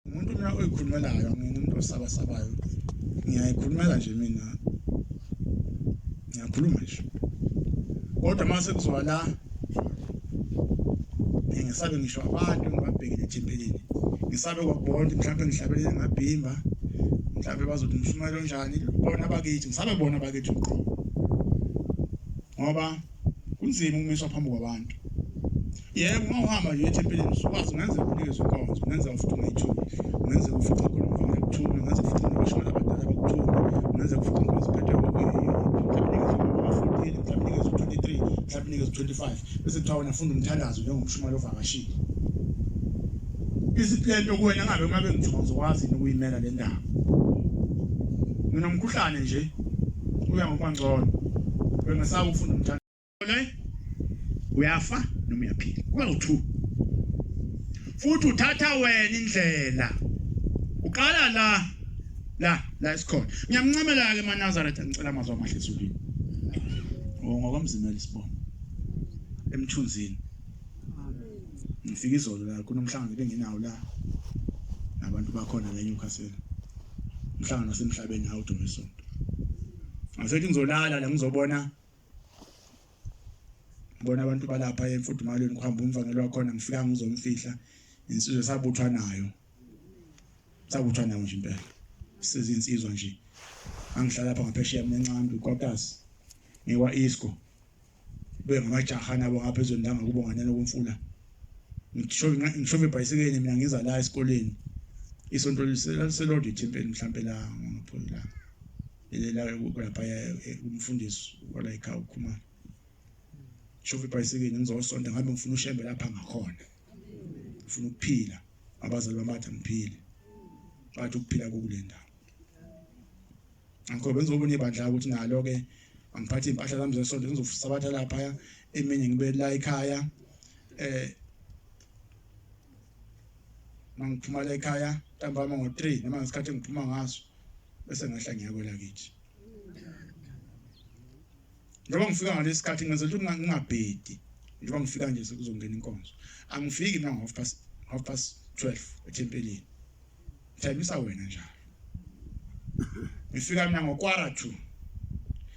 umuntu mina oyikhulumelayo angiyena umuntu osabasabayo ngiyayikhulumela nje mina ngiyakhuluma nje kodwa uma sekuzoba la ngisabe ngisho abantu ngibabhekele ethempelini ngisabe kwabonke mhlawumbe ngihlabelele ngabhimba mhlawumbe bazothi umshumayelo onjani bona bakithi ngisabe bona bakithi uqobo ngoba kunzima ukumiswa phambi kwabantu yebo uma uhamba nje ethempelini usukwazi ungenzeka unikeze inkonzo ungenzeka futhi ungayithuli ungenzeka ufice khona umfana kuthula ungenzeka futhi nabashona abadala bakuthula ungenzeka futhi inkonzo iphethwe mhlawumbe inikeza 25 bese kuthiwa wena funda umthandazo njengomshumali ovakashile Isiphetho kuwena ngabe uma bengithiwa uzokwazi yini ukuyimela le ndaba. Nginomkhuhlane nje uya ngokwangcono. Bengisaba ukufuna umthanda. Uyafa noma uyaphila. Kuba u2. Futhi uthatha wena indlela. Uqala la la la isikhona. Ngiyamncamela ke maNazaretha ngicela amazwi amahle esukwini. Ngokomzimela isibongo. Emthunzini. ngifika izolo la kunomhlangano bengenawo la nabantu bakhona la eNewcastle umhlangano wasemhlabeni hawu domisonto ngasethi ngizolala la ngizobona ngibona abantu balapha emfudumalweni kuhamba umvangelo wakhona ngifika ngizomfihla insizwe sabuthwa nayo sabuthwa nayo nje impela sizinsizwa nje angihlala lapha ngaphesheya mina ncambi kwakasi ngiwa isco kube ngamajaha nabo ngapha ezweni lami ngokubonganyana komfula ngishove ibhayisikeni mina ngiza la esikoleni isonto liselodwa ithempeli mhlampe la ngopholi la lelayo kulaphaya eh, umfundisi walayikhaya ukhumana shova ibhayisikeni ngizosonta ngabe ngifuna ushembe lapha ngakhona ngifuna ukuphila abazali bami bathi angiphile bathi ukuphila kokulenda ngikho benza obunye ibandla ukuthi nalo ke angiphathe impahla zami zesonto ngizosabatha lapha eminye ngibe la ekhaya eh mangiphuma la ekhaya ntambama ngo-3 noma ngesikhathi engiphuma ngaso bese ngehla ngiyakwela kithi njengoba ngifika ngalesi sikhathi ngenzela ukuthi ngingabhedi njengoba ngifika nje sekuzongena inkonzo angifiki nango-half past half past 12 ethempelini Ngithembisa wena njalo. Ngifika mina ngokwara 2.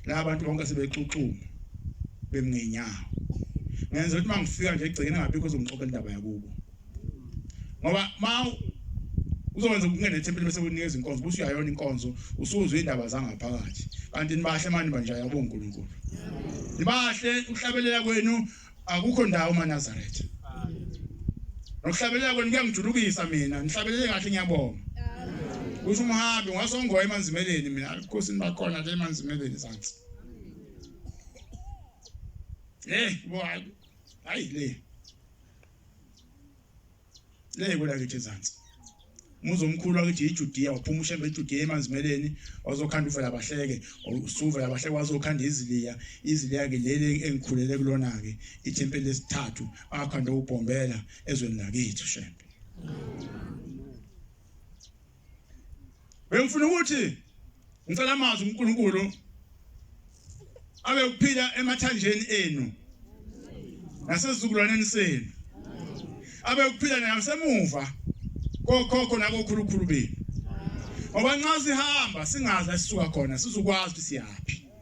La abantu bonke sebexuxuma bemngenyawo. Ngenza ukuthi mangifika nje egcekeni ngabikho uzongixoxela indaba yakubo. Ngoba ma uzokwenza ukungena ethempelini bese unikeza inkonzo bese uyayona inkonzo usuzwe indaba zangaphakathi kanti nibahle manje banje yabo uNkulunkulu nibahle ukuhlabelela kwenu akukho ndawo maNazaretha nokuhlabelela kwenu kuyangijulukisa mina ngihlabelele kahle ngiyabonga kusho umhambi ngasongoya emanzimeleni mina alikhosi nibakhona le emanzimeleni sansi eh boy hayi le Leye kwela kithi ezansi. Muzo omkhulu akithi iJudiya waphuma ushembe iJudiya emanzimeleni wazokhanda uvela abahleke usuvela abahleke wazokhanda iziliya iziliya ke leli engikhulele kulona ke ithempeli lesithathu akhanda ubhombela ezweni lakithi shembe. Bengifuna ukuthi ngicela amazwi uNkulunkulu abe ukuphila emathanjeni enu nasezizukulwaneni senu abe ukuphila nasemuva kokhokho nakokhulukhulu benu ngoba nxa sihamba singazi esisuka khona sizokwazi ukuthi siyaphi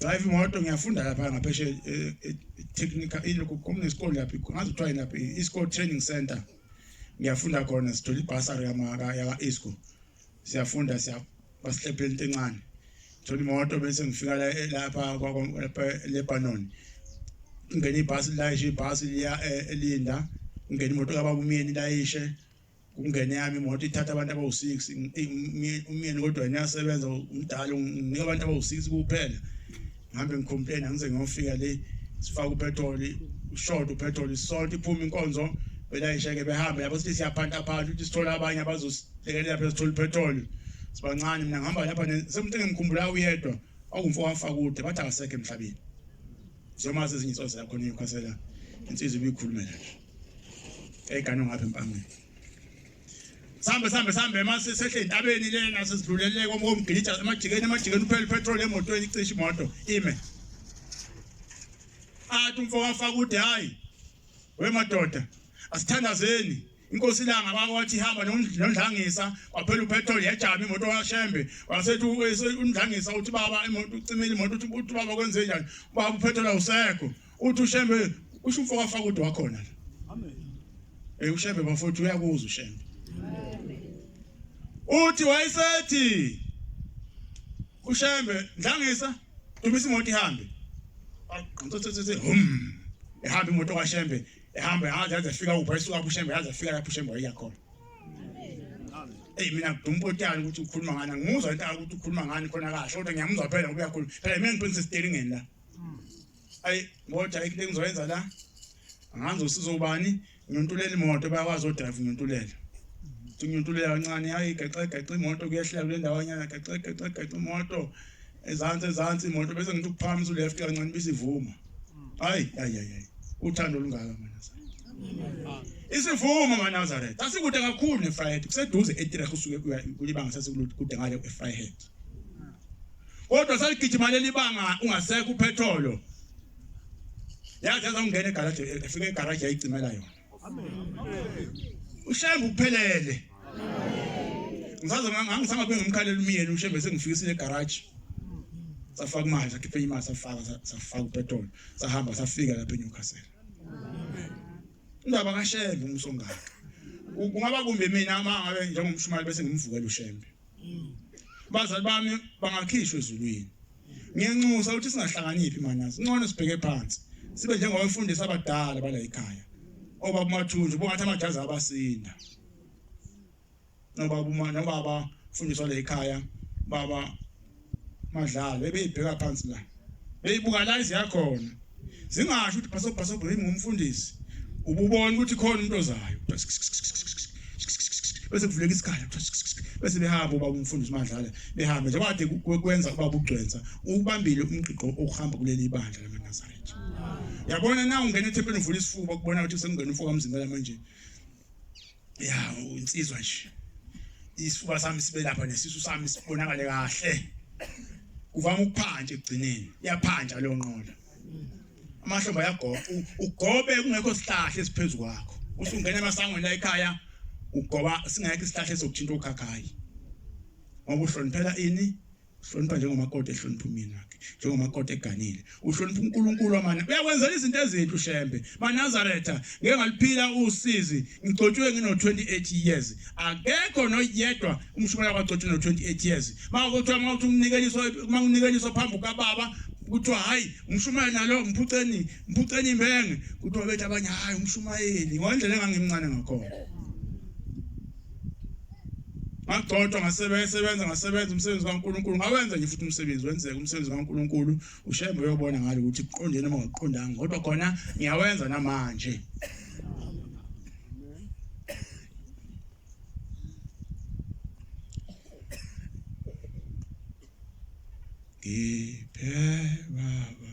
drive imoto ngiyafunda lapha ngapheshe eh, eh, technical ilokho kunesikole lapha ngazi kuthiwa lapha i-school training center ngiyafunda khona sithola ibhasari yamaka yaka-isco siyafunda siyabasihlephela into encane thola imoto bese ngifika eh, lapha lebanon ngingena ibhasi lilayishe ibhasi liya elinda ngingena imoto kababa umyeni ilayishe kungene yami imoto ithatha abantu abawu-six umyeni kodwa ngiyasebenza umdala nginika abantu abawu-six kuphela ngihambe ngicomplain angize ngiyofika le sifake upetroli ushort upetroli sonke iphume inkonzo belayisheke behambe yabo sithi siyaphanta phantha ukuthi sithole abanye abazosilekelela phela sithole upetroli sibancane mina ngihamba lapha semuntu engimkhumbula uyedwa awumfo wafakude bathi akasekho emhlabeni njengoba sezinye insozi yakhona ikhosela insizwa ibikhulumela nje Egane ngapha empangeni. Sambe sambe sambe mase sehle intabeni lena sesidluleleke omgidija emajikeni emajikeni uphele petrol emotweni icisha imoto ime. Athi umfo wafaka ude hayi we madoda asithandazeni inkosi ilanga baba wathi hamba nondlangisa waphela upetrol yajama imoto washembe wasethi undlangisa uthi baba imoto ucimile imoto uthi baba kwenze njani baba upetrol awusekho Uthi uShembe usho umfo wafaka udo wakhona la. Amen. Eh uShembe bafowethu uyakuzwa uShembe. Uthi wayesethi uShembe ndlangisa dumisa imoto ihambe. Aqontsothe hum. Ehamba imoto kaShembe ehamba yaze yaze fika upha isuka uShembe yaze fika lapho uShembe wayiya khona. Hey mina ngidumpotyana ukuthi ukhuluma ngani ngimuzwa into ukuthi ukhuluma ngani khona kasho kodwa ngiyamuzwa phela ngoba uyakhuluma. Phela mina ngiphilisa steering la. ayi ngoda ayikho engizoyenza la angazi usizo ubani ngiyontulele imoto bayakwazi odrive ngiyontulele ngiyontulele kancane hayi gaxe gaxe imoto kuyehlela kule ndawo nyana gaxe gaxe gaxe imoto ezansi ezansi imoto bese ngithi ukuphakamisa uleft kancane bisivuma hayi hayi hayi uthando olungaka manazareth isivumo manazareth asikude kakhulu nefryhead kuseduze etireh usuke kulibanga sasikude ngale efryhead kodwa saligijima leli banga ungasekho uphetholo yaze yazongena egaraji efika egaraji yayicimela yona ushembe uphelele ngisaze ngangisanga kube ngimkhalela umyeni ushembe sengifikisile egaraji safaka imali sakhiphe imali safaka safaka upetrol sahamba safika lapha eNewcastle indaba kashembe umsongaka kungaba kumbe mina uma ngabe njengomshumali bese ngimvukela ushembe bazali bami bangakhishwa ezulwini ngiyanxusa ukuthi singahlanganiphi manyazi ngcono sibheke phansi sibe njengabafundisi abadala bala ekhaya obaba umathunzi ubongathi amajazi abasinda nobaba uma nobaba fundiswa la ekhaya baba madlalo ebeyibheka phansi la beyibuka la iziyakhona zingasho ukuthi bhaso bhaso bhaso ngumfundisi ububona ukuthi khona umuntu ozayo bese kuvuleka isikhala bese behamba uba umfundisi madlala behambe njengoba kade kwenza uba kugcwensa ubambile umgqiqo okuhamba kuleli bandla lamaNazaretha yabona na ungena ethempelini uvula isifuba kubona ukuthi sekungena umfoka mzimela manje ya insizwa nje isifuba sami sibe lapha nesisu sami sibonakale kahle kuvama ukuphanja ekugcineni iyaphanja leyo nqola amahlomba ayagoba ugobe kungekho sihlahla esiphezulu kwakho usungena emasangweni la ekhaya ugoba singekho isihlahla esokuthinta ukhakhayi ngoba uhloniphela ini uhlonipha njengomakoti ehlonipha umyeni wakhe njengomakoti eganile uhlonipha uNkulunkulu amane uyakwenzela izinto ezinhle ushembe manazaretha ngeke ngaliphila usizi ngigcotshwe ngino 28 years akekho noyedwa umshumela kwagcotshwe no 28 years makuthiwa mawuthi umnikeliso makunikeliso phambi kababa kuthiwa hayi umshumayeli nalo mphuceni mphuceni imenge kuthiwa bethi abanye hayi umshumayeli ngondlela engangimncane ngakhona ngagcotshwa ngasebenza sebenza ngasebenza umsebenzi kaNkuluNkulu ngawenza nje futhi umsebenzi wenzeka umsebenzi kaNkuluNkulu ushembe uyobona ngalo ukuthi kuqondene noma ngokuqondanga kodwa khona ngiyawenza namanje ngiphe baba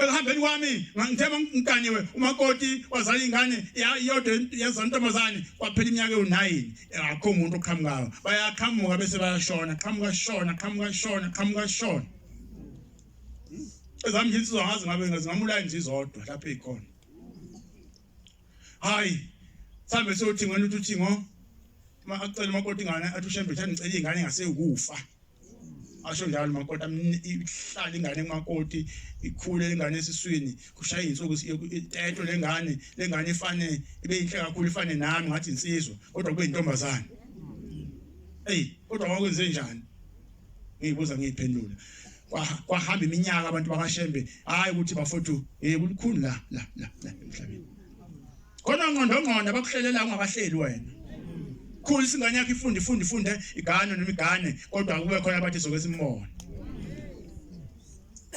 ekuhambeni kwami ngangithema ngiganiwe umakoti wazala ingane iyodwa yezwa intombazane kwaphela iminyaka ewu-nine akho umuntu oqhamukayo bayaqhamuka bese bayashona qhamuka shona qhamuka shona qhamuka shona ezami nje insizwa ngazi ngabe zingamulaya nje izodwa lapho eyikhona hayi sambe sothi ngena uthi uthingo acela umakoti ingane athi ushembe uthi angicela ingane engaseyukufa asho njalo makoti ihlala ingane kumakoti ikhule lengane esiswini kushaye insuku etetho lengane lengane ifane ibe inhle kakhulu ifane nami ngathi insizwa kodwa kube intombazane hey kodwa wakwenze njani ngiyibuza ngiyiphendula kwahamba iminyaka abantu bakashembe hayi ukuthi bafowethu hey kulikhulu la la la emhlabeni khona ngqondongqondo abakuhlelela ungabahleli wena khulu isingane yakho ifunde ifunde ifunde igane noma igane kodwa kube khona abathi soke simbone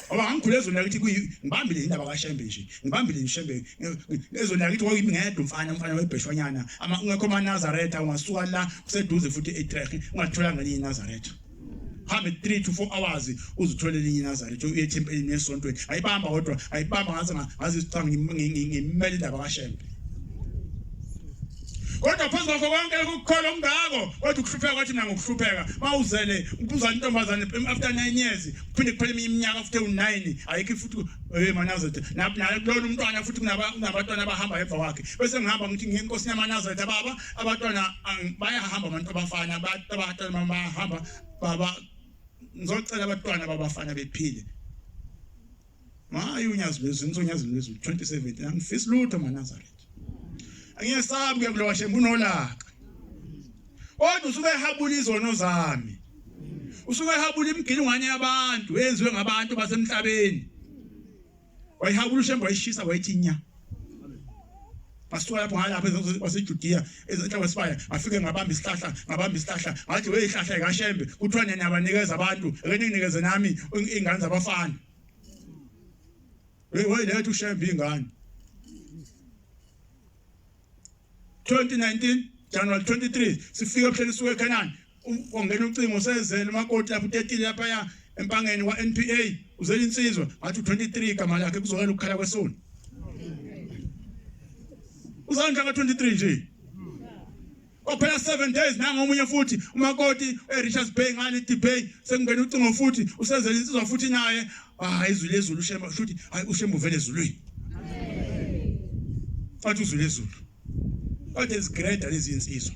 Oba ngikhule ezweni lakithi kuyi ngibambile indaba kaShembe nje. Ngibambile ngiShembe. Ezweni lakithi kwakuyimi ngedwa umfana umfana webheshwanyana. Ama ungekho maNazaretha ungasuka la kuseduze futhi eTrek ungathola ngelinye iNazaretha. hambe 3 to 4 hours uzithola elinye inazari to uye thempelini esontweni ayibamba kodwa ayibamba ngathi ngazi isicanga ngimele indaba kashembe kodwa phezu kwakho konke ukukhola okungako kodwa ukuhlupheka kwathi mina ngokuhlupheka mawuzele ubuzana intombazane after 9 years kuphinde kuphele eminye iminyaka after u9 ayikho futhi hey manazet nakulona umntwana futhi kunabantwana abahamba emva kwakhe bese ngihamba ngithi ngiye enkosini yamanazet baba abantwana ang- bayahamba abantu abafana abantu abafana uma bahamba baba ngizocela abantwana babafana bephile maye unyazi lwezulu ngithe unyazi lwezulu 2017 angifisi lutho manazaretha angiyesabi ke kulowa shembe unolaka kodwa usuke ehabula izono zami usuke ehabula imigilingwane yabantu eyenziwe ngabantu basemhlabeni Wayihawula uShembe wayishisa wayithi nya. Basuka lapho ngala lapha waseJudiya ezenhla kwesibaya afike ngabamba isihlahla ngabamba isihlahla ngathi we ihlahla kaShembe kuthiwa nina abanikeza abantu ake ninikeze nami ingane zabafana. Hey why let uShembe ingane? 2019 January 23 sifike ebuhleni suke eKhanani Kwangena ucingo sezele umakoti lapho utetile lapha ya empangeni wa NPA uzela insizwa ngathi 23 igama lakhe kuzokela ukukhala kwesoni. Uzandla ka 23 nje. Ophela 7 days nanga omunye futhi umakoti eRichards Bay ngani debate sekungena ucingo futhi usezela insizwa futhi naye hayi izwi lezulu shema futhi hayi ushembu vele ezulwini. Amen. Athi uzwi lezulu. Kade zigreda lezi insizwa.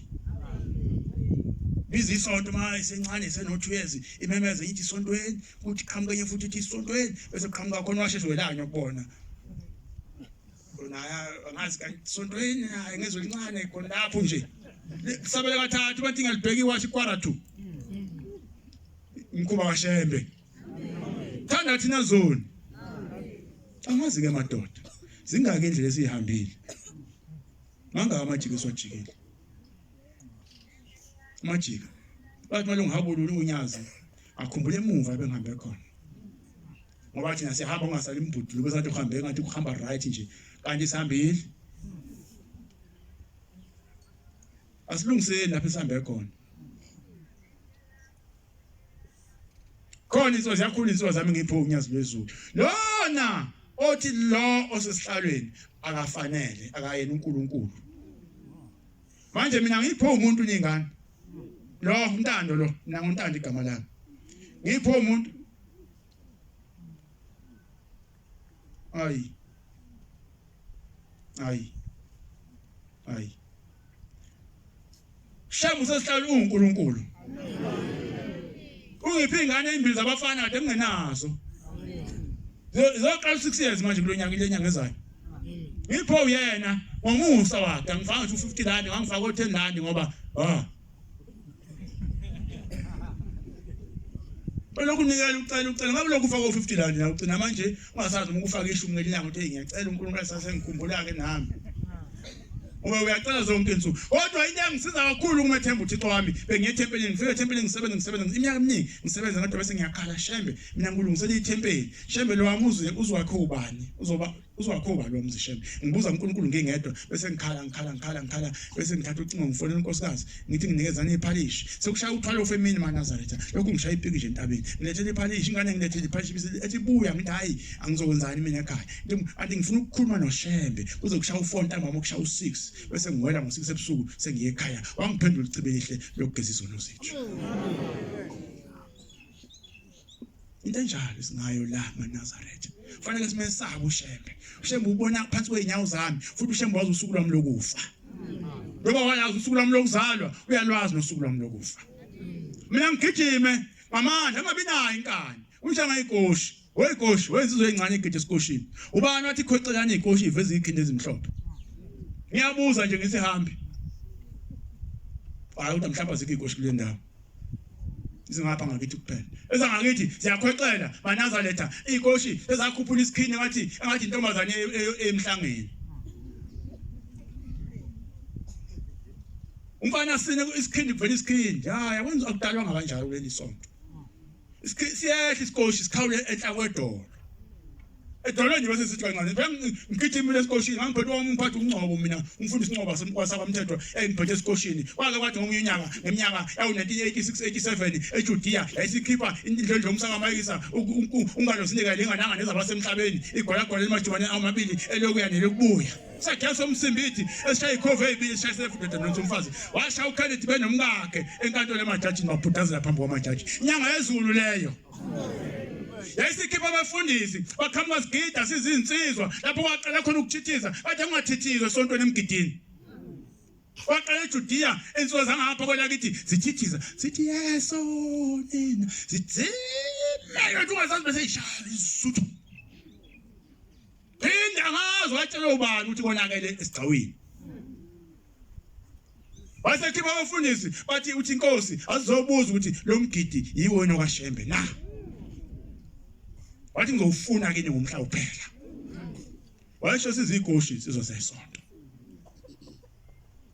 Biza isonto uma isencane iseno 2 years imemeze ithi isontweni kuthi qhamuka enye futhi ithi isontweni bese qhamuka khona washeshe welanya kubona. Naye angazi kanti isontweni hayi ngezwe lincane khona lapho nje. Kusabela kathathu bathi ngalibheki wathi kwara 2. Mkhuba washembe. Thanda thina zoni. Angazi ke madoda. Zingaki indlela esihambile. Mangaka amajika esiwajikile. Amajika. Bathi malungu habulula unyazi. Akhumbule emuva ebengihambe khona. Ngoba thina sihamba ungasali imbudulu bese athi uhambe ngathi uhamba right nje. Kanti sihambile. Asilungiseni lapho esihambe khona. khona insizwa ziyakhula insizwa zami ngipho unyazi lwezulu lona othi lo osesihlalweni akafanele akayena uNkulunkulu manje mina ngipho umuntu ningane lo untando lo mina nguntando igama lami ngipho umuntu Ayi. Ayi. Ayi. Shamu sesihlala uNkulunkulu. Ungiphi ingane ezimbili zabafana kade ngingenazo. Zoqala 6 years manje kulonyaka ile nyanga ezayo. Ngipho uyena ngomusa wakhe angifanga 250 rand ngangifaka 10 rand ngoba ah Belokhu nikela ucela ucela ngabe lokhu ufaka u50 rand la ugcina manje ungasazi uma ukufaka ishumi ngelinyanga uthi ngiyacela uNkulunkulu asase ngikhumbula ke nami. Uma uyacela zonke insuku. Kodwa into engisiza kakhulu kumethemba uThixo wami bengiye ethempelini ngifike ethempelini ngisebenza ngisebenza iminyaka eminingi ngisebenza kodwa bese ngiyakhala shembe mina ngilungisela ithempeli shembe lo wami uze uzwakhe ubani uzoba uzwakho ubani wamzi shem ngibuza uNkulunkulu ngingedwa bese ngikhala ngikhala ngikhala ngikhala bese ngithatha ucingo ngifona unkosikazi ngithi nginikezana iphalishi sekushaya uthwalo femini manazaretha lokhu ngishaya ipiki nje entabeni ngilethele iphalishi ingane ngilethele iphalishi bese ethi buya ngithi hayi angizokwenzani mina ekhaya anti ngifuna ukukhuluma noshembe kuze kushaya u4 ntambama ukushaya u6 bese ngiwela ngo6 ebusuku sengiye ekhaya wangiphendula icibelihle lokugeza izono zethu into enjalo singayo la maNazaretha kufanele simesabe ushembe ushembe ubona phansi kweinyawo zami futhi ushembe wazi usuku lwami lokufa ngoba wayazi usuku lwami lokuzalwa uyalwazi nosuku lwami lokufa mina ngigijime ngamandla angabi nayo inkani unjanga igoshi wegoshi wenzizwe ezincane igidi esikoshini ubani wathi khocelani igoshi iveza ikhindi ezimhlophe ngiyabuza nje ngisihambi hayi uthi mhlawumbe azikho igoshi kule ndawo zingapha ngakithi kuphela ezangakithi ziyakhwexela banazaletha iy'koshi ezakhuphula isikhini engathi engathi intombazane e- e- e- emhlangeni umfana sine isikhindi kuvela isikhindi hayi akwenza akudalwanga kanjalo kuleli sonto siyehla isikoshi sikhawule enhla kwedolo edolweni nje bese sithi kancane ngigijimile esikoshini ngangiphethe wami umphathi ungcobo mina umfundisi ungcobo wasabamthethwa engiphethe esikoshini kwake kwathi ngomunye unyaka ngeminyaka yawu-1986-87 ejudiya yayisikhipha indlondlo umsakamayisa ungalo sinikele ingananga nezabasemhlabeni igolagola elimajumaneni amabili elokuya nelokubuya Sakhe somsimbithi esishaye ikhova ezibili esishaye sefudoda nonke umfazi. Washaya uKenneth benomkakhe enkantolo emajaji mabhudazela phambi kwamajaji. Inyanga yezulu leyo. yayisikhipha abafundisi baqhamuka sigida sizinsizwa lapho kwaqala khona ukuthithiza bathe kungathithizwa esontweni emgidini waqala ejudiya insizwa zangapha kwelakithi zithithiza zithi yeso nina zithimeka ungazazi beseyishaya isuthu Phinde angazi watshela ubani ukuthi konakele esigcawini. Wasekhipha abafundisi bathi uthi inkosi azizobuza ukuthi lo mgidi yiwo nokashembe na. Wathi ngizofuna kini ngomhla uphela. Washo sizigoshi sizosesonto.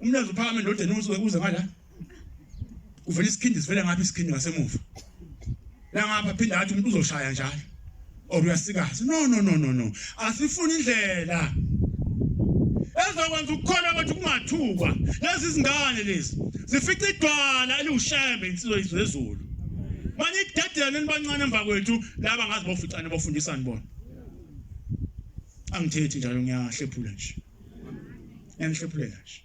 Umlazi uphakame ndodeni usuke kuze ngala. Uvela isikhindi sivela ngapha isikhindi ngasemuva. La ngapha phinda athi umuntu uzoshaya njalo. Or uyasikaza. No no no no no. Asifuni indlela. Ezokwenza ukukhona kwethu kungathukwa. Lezi zingane lezi zifica idwala eliwushembe insizwe yezulu. Manje idedela nibancane emva kwethu laba ngazi boficane bofundisani bona. Angithethi njalo ngiyahlephula nje. Ngiyanihlephuleka nje.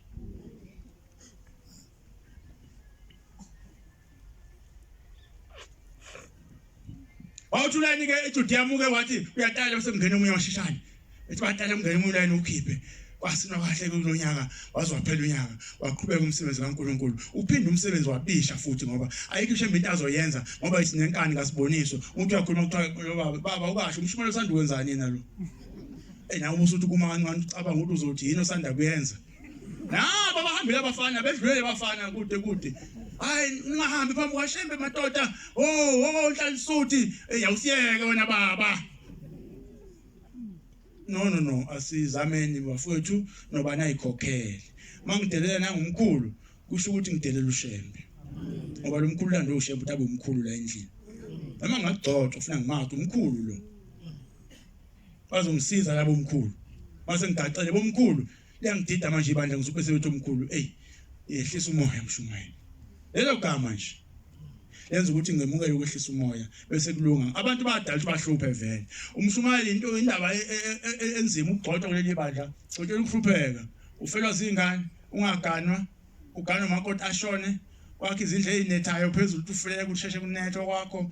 Wawuthi ulayini ke eJudiya muke wathi uyatala bese kungena omunye washishane. Ethi batala kungena omunye ulayini ukhiphe. Kwasina kahle kulonyaka waze waphela unyaka waqhubeka umsebenzi kaNkuluNkulu. Uphinde umsebenzi wabisha futhi ngoba ayikho ishe into azoyenza ngoba isinenkani kasiboniso. Umuntu uyakhuluma kuthiwa baba ubasho umshumela usanda kwenzani yena lo. Ena uma usuthi kuma kancane ucabanga ukuthi uzothi yini osanda kuyenza. Nabo abahambile abafana bedlulele abafana kude kude. Hayi ungahambi phambi kwashembe madoda. Oh, oh nhlalisuthi. Ey awusiyeke wena baba. No no no asizameni bafowethu noba nayikhokhele. Mangidelela nangumkhulu kusho ukuthi ngidelela ushembe. Ngoba lo mkhulu lando ushembe utabe umkhulu la endlini. Noma ngagcotshwa ufuna ngimathe umkhulu lo. bazongisiza labo mkhulu base ngigacele bomkhulu liyangidida manje ibandla ngisuke sebethu omkhulu ey yehlisa umoya mshumayeli lelo gama nje yenza ukuthi ngemukele ukwehlisa umoya bese kulunga abantu badala ukuthi bahluphe vele umshumayeli into indaba e, e, e, enzima ukugcotshwa kuleli bandla gcotshela ukuhlupheka ufelwa zingane ungaganwa uganwa umakoti ashone kwakhe izindlu ezinethayo phezulu uthi ufulele kusheshe kunethwa kwakho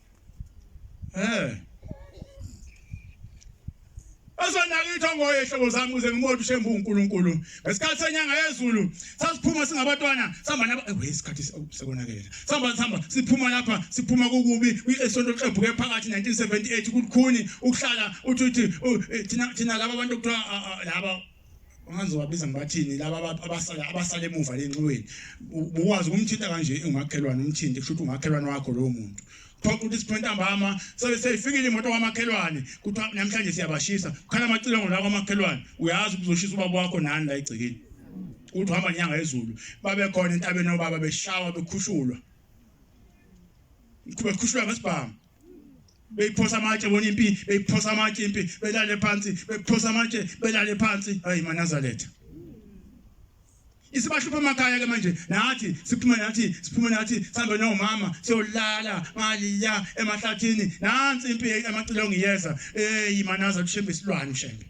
Eh. Azonakitho ngoye hlobo zami kuze ngimothi shembu uNkulunkulu. Ngesikhathi senyanga yezulu sasiphuma singabatwana sihamba naba eh isikhathi sekonakele. Sihamba sihamba siphuma lapha siphuma kukubi kwisonto xebhuke phakathi 1978 kukhuni ukuhlala uthi uthi eh, thina thina laba bantu kuthiwa ah, ah, laba Manje wabiza ngibathini laba abantu abasala abasala emuva lenxiweni. Ukwazi ukumthinta kanje ungakelwana umthinte kusho ukuthi ungakelwana wakho lowo muntu. Phoqa ukuthi sipho ntambama sebe seyifikile imoto kwamakhelwane kuthiwa namhlanje siyabashisa. Kukhala amacilongo la kwamakhelwane uyazi ukuzoshisa ubaba wakho nani la egcekeni. Uthi uhamba nyanga ezulu babe khona entabeni obaba beshawa bekhushulwa. Bekhushulwa ngesibhamu. beyiphosa amatshe bona impi beyiphosa amatshe impi belale phansi beyiphosa amatshe belale phansi hayi manazaletha isibahlupha emakhaya ke manje nathi siphuma nathi siphuma nathi sihambe nomama siyolala maliya emahlathini nansi impi emacilongo iyeza eyi manaza kushembe isilwane ushembe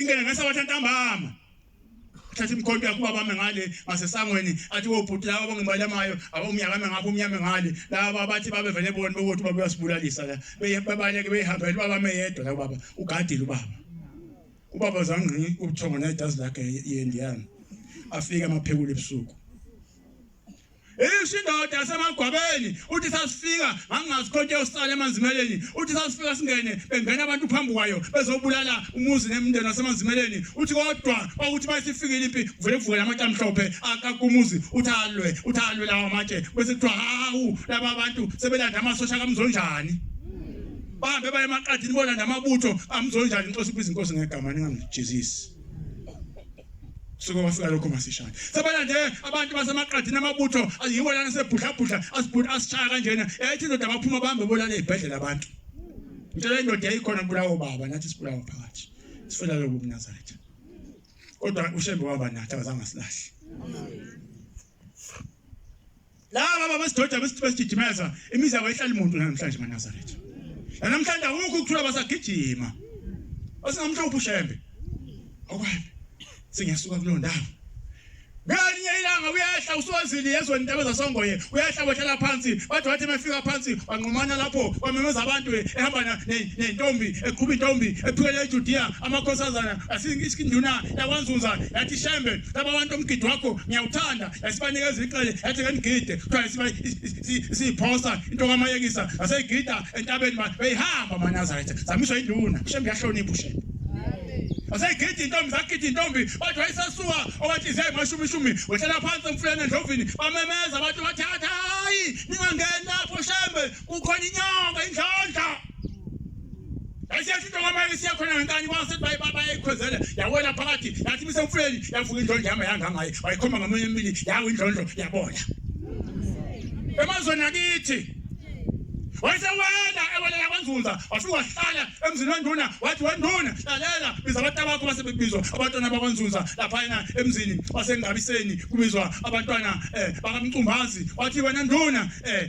ingene ngasabatha ntambama thatha imkhonto yakho babambe ngale ngasesangweni athi wobhuti laba bongibalamayo abomnyakame ngapha umnyame ngale laba bathi babevele bona bokuthi baba uyasibulalisa la bebaleke behambele babame yedwa la baba ugadile ubaba ubaba zangqi ubuthongo nedazi lakhe yendiyana afike amaphekula ebusuku Isho indoda yasemagwabeni uthi sasifika ngangingazikhonti yosala emanzimeleni uthi sasifika singene bengena abantu phambi kwayo bezobulala umuzi nemndeni wasemanzimeleni uthi kodwa kwakuthi bayisifikile impi kuvele kuvukela amatshe amhlophe akaka umuzi uthi alwe uthi alwe lawo amatshe bese kuthiwa hawu laba bantu sebelanda amasosha kamzonjani bahambe baye emaqadini bolanda amabutho amzonjani inkosi ibiza inkosi ngegama ningamjezisi suke wafika lokho masishane sebalande abantu basemaqadini amabutho yiwo lana sebhudlabhudla asibhudla asishaya kanjena ethi indoda baphuma bahambe bolala ezibhedlela abantu ngitshela indoda yayikhona kubulawo baba nathi sibulawa phakathi sifela lobo kunazaretha kodwa ushembe waba nathi akazange asilahle laba baba sidoda besigijimeza imizi yabo ihlala imuntu namhlanje eNazaretha namhlanje awukho ukuthola basagijima osingamhlophe ushembe okwani singiyasuka kulo ndawo ngelinye ilanga uyehla usozili yezweni intaba zasongoye uyehla wehlala phansi bathi wathi mefika phansi wanqumana lapho wamemeza abantu ehamba nentombi eqhuba intombi ephikele ejudiya amakhosazana asinduna yakwanzunza yathi shembe laba bantu omgidi wakho ngiyawuthanda esibanikeza icele ethi ke ngigide kuthiwa siba siyiphosa into kamayekisa aseyigida entabeni manje beyihamba manazaretha zamiswa induna shembe yahlonipha ushembe aseyigida intombi zagida intombi bathi wayesesuka owathi ziya emashumi ishumi wehlela phansi emfuleni endlovini bamemeza abantu bathi hayi ningangeni lapho shembe kukhona inyama indlondla yasiyashintsha kwamanye siya khona ngenkani kwase bayikhwezela yawela phakathi yathi isemfuleni yavuka indlondla yama yangangaye wayikhomba ngamunye emibili yawo indlondlo yabona emazweni akithi wayesewela ewelela kwanzunza wafika wahlala emzini wenduna wathi wenduna lalela biza abantu abakho base bebizwa abantwana bakwanzunza laphayana emzini wasengabiseni kubizwa abantwana um bakamcumbazi wathi wena nduna um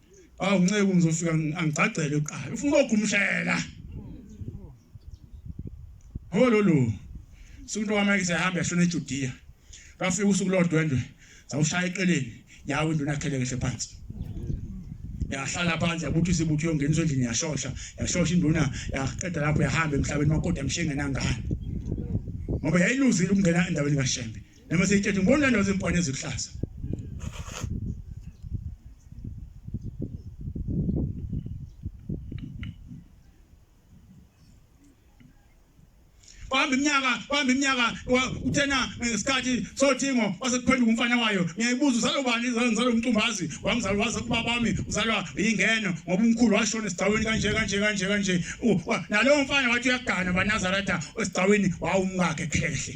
awu nceku ngizofika angigcagcele uqala ufuna ukugumshela hololo sunto wami ke sehamba yashona eJudiya bafika usuku lodwendwe zawushaya eqeleni yawo induna yakhele kahle phansi yahlala phansi yabuthi sibuthi yongeniswa endlini yashosha yashosha induna yaqeda lapho yahamba emhlabeni makoti yamshenga nangani ngoba yayiluzile ukungena endaweni kaShembe Noma seyithethe ngibona nazo impwane eziluhlaza. kwahamba iminyaka kwahamba iminyaka uthena ngesikhathi sothingo wasekuphenduka umfana wayo ngiyayibuza uzalwa ubani ngizalwa umcumbazi wangizalwa waze kuba bami uzalwa yingeno ngoba umkhulu washona esigcawini kanje kanje kanje kanje nalowo mfana wathi uyagana banazaretha esigcawini wawumkakhe khehle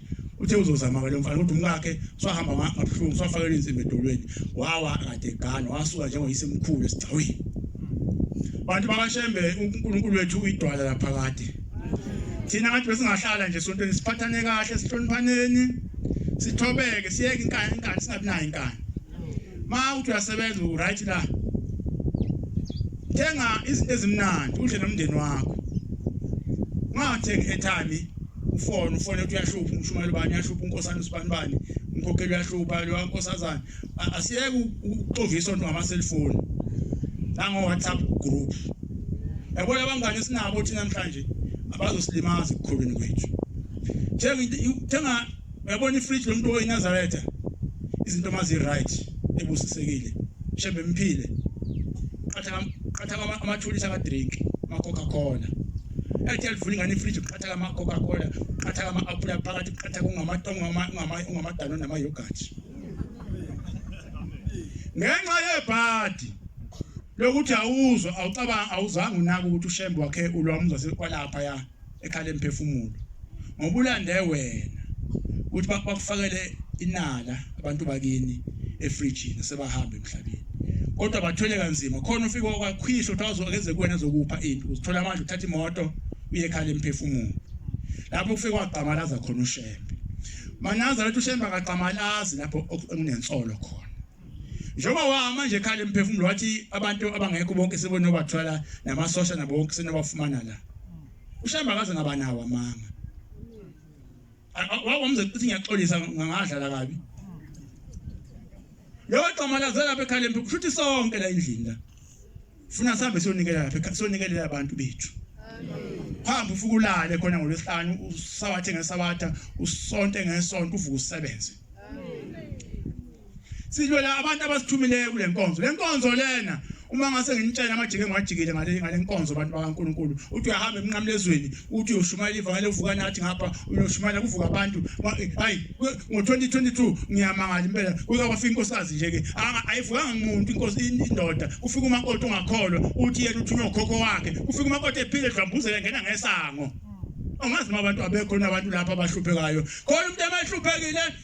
uthe uzozama-ke lo mfana kodwa umkakhe usahamba ngabuhlungu usafakelwe insimbi edolweni wawa kade egana wasuka njengoyise mkhulu esigcawini bantu bakashembe unkulunkulu wethu uyidwala laphakade thina abantu besingahlala nje sontweni siphathane kahle sihloniphaneni sithobeke siyeke inkani inkani singabi nayo inkani ma uthi uyasebenza uright la thenga izinto ezimnandi udle nomndeni wakho ungathengi airtime ufone ufone ukuthi uyahlupha umshumayeli ubani uyahlupha unkosana usibani bani umkhokheli uyahlupha lowa nkosazana asiyeke ukuxovisa onto ngamaselfoni nango-whatsapp group yabo labangane esinabo thina namhlanje abazosilimaza ekukhulwini kwethu thenga Uyabona ifridge lomuntu oyiNazaretha izinto mazi right ebusisekile. Shembe mphile. Qatha qatha amathulisa ka drink ma Coca Cola. Ethi alivula ingane ifridge qatha ka ma Coca Cola, qatha ka ma apple phakathi, qatha kungamatongo ngamadano nama yogurt. Ngenxa yebhadi lokuthi awuzwa awucabanga awuzange unake ukuthi ushembe wakhe ulwamuza sekwalapha ya ekhala emphefumulo ngoba ulande wena ukuthi bakufakele inala abantu bakini efrijini sebahamba emhlabeni kodwa bathwele kanzima khona ufike wakwakhwihla ukuthi azokenze kuwena zokupha into uzithola manje uthatha imoto uye ekhaya emphefumulo lapho kufike kwagqamalaza khona ushembe manaza lethu ushembe akagqamalazi lapho okunensolo khona njengoba wama nje khale emphefumulo wathi abantu abangekho bonke sebonobathwala namasosha nabo bonke senobafumana la ushamba kaze ngaba nawo amanga wawamze ukuthi ngiyaxolisa ngangadlala kabi leyo gqama lazela lapha ekhaleni kusho ukuthi sonke la endlini la Funa sihambe siyonikela lapha siyonikelela abantu bethu. Hamba ufuke ulale khona ngolwesihlanu usawathe ngesabatha usonte ngesonto uvuke usebenze. Silwela abantu abasithumileyo kule nkonzo. Le nkonzo lena uma ngase nginitshela amajike engiwajikile ngale nkonzo abantu bakaNkuluNkulu uthi uyahamba emnqamlezweni uthi uyoshumayela ivangeli uvuka nathi ngapha uyoshumayela kuvuka abantu hayi ngo-2022 ngiyamangala impela kuke kwafika inkosikazi nje-ke ayivukanga muntu inkosi indoda kufika umakoti ongakholwa uthi yena uthunywa ukhokho wakhe kufika umakoti ephile edlambuzela ngena ngesango angazi noma abantu abekho nabantu lapha abahluphekayo khona umuntu abahluphekile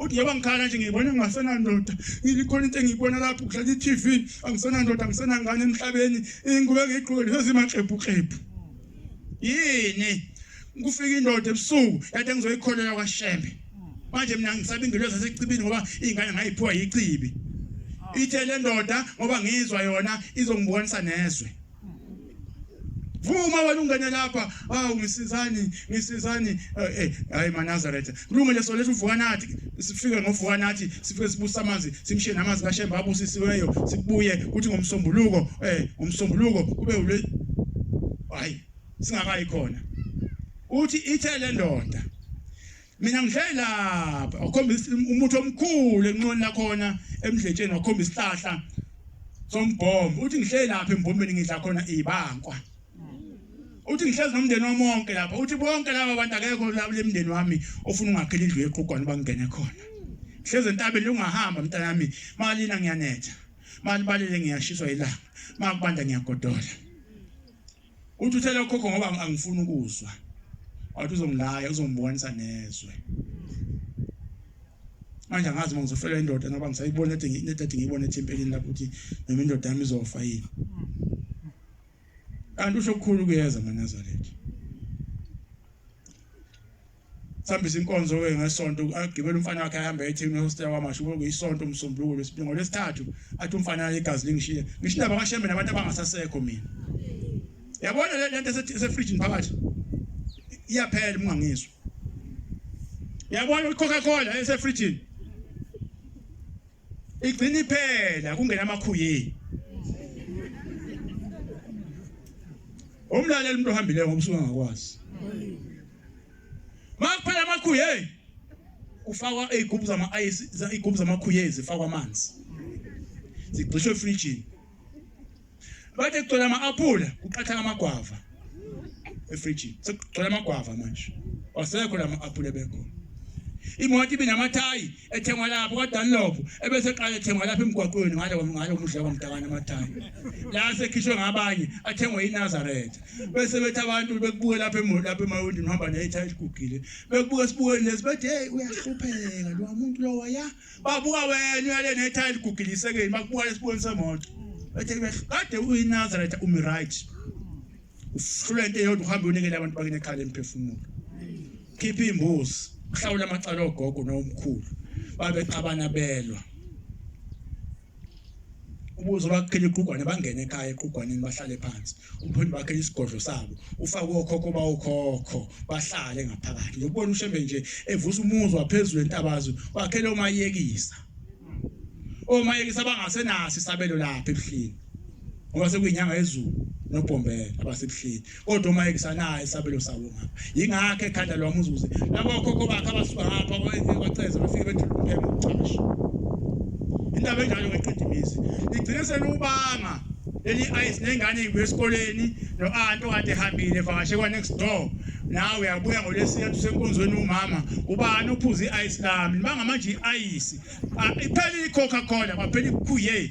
uthi njengoba ngikhala nje ngiyibona ngingasenandoda ngilikhona into engiyibona lapho kudlala i-tv angisenandoda angisenangane emhlabeni ingubo engiyigqoke lezimaxebhuxebhu yini kufika indoda ebusuku yathi engizoyikholela kwashembe manje mina ngisaba ingelosi yasecibini ngoba iy'ngane ngayiphiwa yicibi ithe le ndoda ngoba ngizwa yona izongibonisa nezwe vuma wena ungene lapha awu ngisizani ngisizani eh, eh hayi manazaretha lungu leso lethu uvuka nathi sifike ngovuka nathi sifike sibusa amanzi simshiye namanzi kashemba abusisiweyo sibuye kuthi ngomsombuluko eh ngomsombuluko kube ule hayi singakayi khona uthi ithe le ndoda Mina ngihleli lapha wakhomba umuthi omkhulu enqoni lakhona emdletsheni wakhomba isihlahla sombhomo uthi ngihleli lapha embombeni ngidla khona ibankwa uthi ngihlezi nomndeni wami wonke lapha uthi bonke laba bantu akekho labo lemndeni wami ofuna ungakhela indlu yeqhugwana bangene khona hlezi entabeni ungahamba mntanami malina ngiyanetha malibalele ngiyashiswa ilanga makubanda ngiyagodola Uthi uthela ukhokho ngoba angifuni ukuzwa. Wathi uzongilaya uzongibonisa nezwe. Manje angazi uma ngizofela indoda ngoba ngisayibona ethi ngidade ngiyibona ethempelini lapho ukuthi noma indoda yami izofa yini. Kanti usho kukhulu kuyeza manazaretha. sihambisa inkonzo-ke ngesonto agibele umfana wakhe ahambe ethini ehostela kwamasho kube kuyisonto umsombuluko lwesibili ngolwesithathu athi umfana igazi lingishiye ngisho indaba kashembe nabantu abangasasekho mina yabona le nto esefrijini phakathi iyaphela ungangizwa yabona ucoca cola esefrijini Igcini phela kungena amakhuyeni. Umlaleli umuntu ohambileyo ngomsuka ngakwazi. Makuphela amakhuyeni kufakwa izigubhu zama-ice izigubhu zamakhuyezi zifakwa amanzi zigxishwe efrijini Bathi kugcwele ama-aphula kuqathaka amagwava efrijini. Sekugcwele amagwava manje. Wasekho la ma-aphula ebekhona. Imoto ibe namathayi ethengwa lapho kwaDunlop ebese eqala ethengwa lapha emgwaqweni ngale ngalo mudla kwamtakana amathayi. La sekhishwe ngabanye athengwe iNazareth. Bese bethi abantu bekubuke lapha emoto lapha emawindini uhamba nethayi eligugile. Bekubuka esibukweni lesi bethi hey uyahlupheka lo muntu lowa ya Babuka wena uyale nethayi eligugilisekeni bakubuka lesiboni semoto. Bathe kade uyiNazaretha umi right. Uhlule into eyodwa uhambe unikele abantu bakini ekhala emphefumulo. Khipha imbuzi, uhlawula amacala ogogo nomkhulu. Babexabana belwa. ubuzo bakuphela iqhugwane bangene ekhaya eqhugwaneni bahlale phansi umpholi bakhe isigodlo sabo ufake okhokho bawukhokho bahlale ngaphakathi ngokubona ushembe nje evusa umuzwa phezulu entabazo wakhele umayekisa omayekisa bangasenasi isabelo lapha ebuhleni ngoba sekuyinyanga yezulu nobhombela abasebuhleni kodwa uma ekusanayo isabelo sabo ngapha yingakho ekhanda lwami uzuze laba okhokho bakhe abasuka ngapha kwaceza bafike bethula umpheme ucasha indaba enjalo ngeqeda imizi igcine selubanga leli ice nengane ibuye esikoleni no-anti okade ehambile vakashe kwa-next door nawe uyabuya ngolwesithathu usenkonzweni umama ubani uphuze i-ice lami nibangamanje i-ayisi ah, iphele i-coca cola kwaphela ikhuye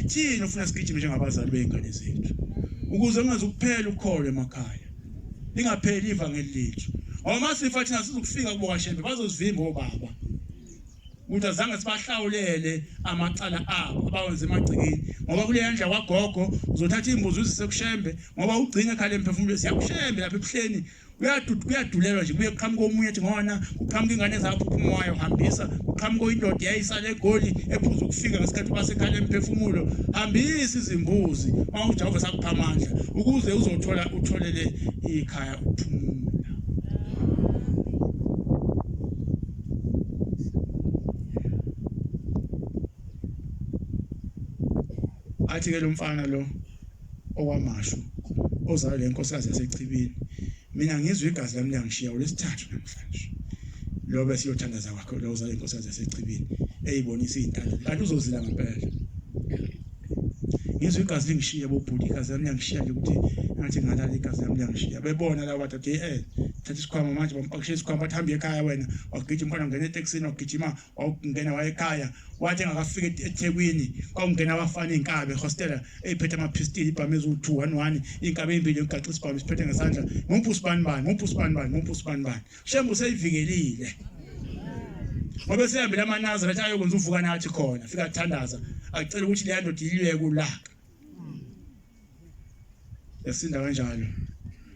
Ithini ufuna sigijime njengabazali beingane zethu ukuze kungaze kuphele ukholo emakhaya. Lingapheli ivangeli lethu. Awuma sifa thina sizokufika kubo kaShembe bazozivimba obaba. Ukuthi azange sibahlawulele amacala abo abawenze emagcikini ngoba kule yandla kwagogo uzothatha imbuzi uzise kuShembe ngoba ugcine ekhale emphefumulweni siyakuShembe lapha ebuhleni Uyadud- kuyadulelwa nje kuye kuqhamuka omunye ethi ngona kuqhamuka ingane zaphuphumo wayo hambisa kuqhamuka oyindoda yayisala egoli ephuza ukufika ngesikhathi basekhala emphefumulo hambisa izimbuzi mawujava sakupha amandla ukuze uzothola utholele ikhaya ukuphumula athi ke lomfana lo okwamashu ozalwe lenkosikazi yasechibini mina ngizwe igazi lami liyangishiya ulesithathu namhlanje lo bese uyothandaza kwakhe lo uzalwe inkosikazi yasechibini eyibonisa izintando kanti uzozila ngempela ngizwe igazi lingishiya bobhuti igazi lami liyangishiya nje ukuthi ngathi ngalala igazi lami liyangishiya bebona laba dade eh thatha isikhwama manje bampakishe isikhwama bathi hambe ekhaya wena wagijima umfana ngena etekisini wagijima wawungena wayekhaya wathi engakafika ethekwini kwakungena abafana iy'nkabi ehostela eyiphethe amaphistili ibhamu eziwu-two one one iy'nkabi ey'mbili yokugaxa isibhamu siphethe ngesandla ngumuphi usibani bani ngumuphi usibani bani ngumuphi usibani bani shembe useyivikelile ngoba esehambile amanazira athi ayokwenza uvuka nathi khona fika kuthandaza acela ukuthi leya ndoda iliyeke ulaka yasinda kanjalo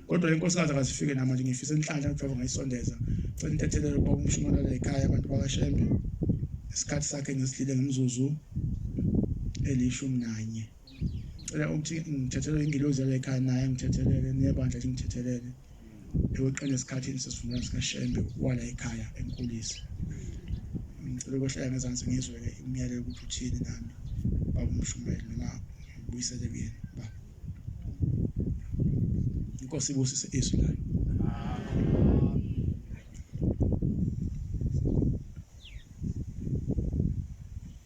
kodwa inkosikazi akazifike namanje ngifisa inhlanhla kuthiwa ngayisondeza cela intethelelo ukuba umshumanela ekhaya abantu bakashembe isikhathi sakhe ngesidlile ngemizuzu elishumi nanye cela ukuthi ngithethelele ingilozi yala ekhaya naye ngithethelele nebandla lingithethelele eweqele esikhathini sesivumelwano sikaShembe wala ekhaya enkulisa ngicela ukwehlela ngezansi ngizwe-ke umyalelo ukuthi uthini nami baba umshumayeli noma ngibuyisele kuyena ba inkosi ibusise izwi layo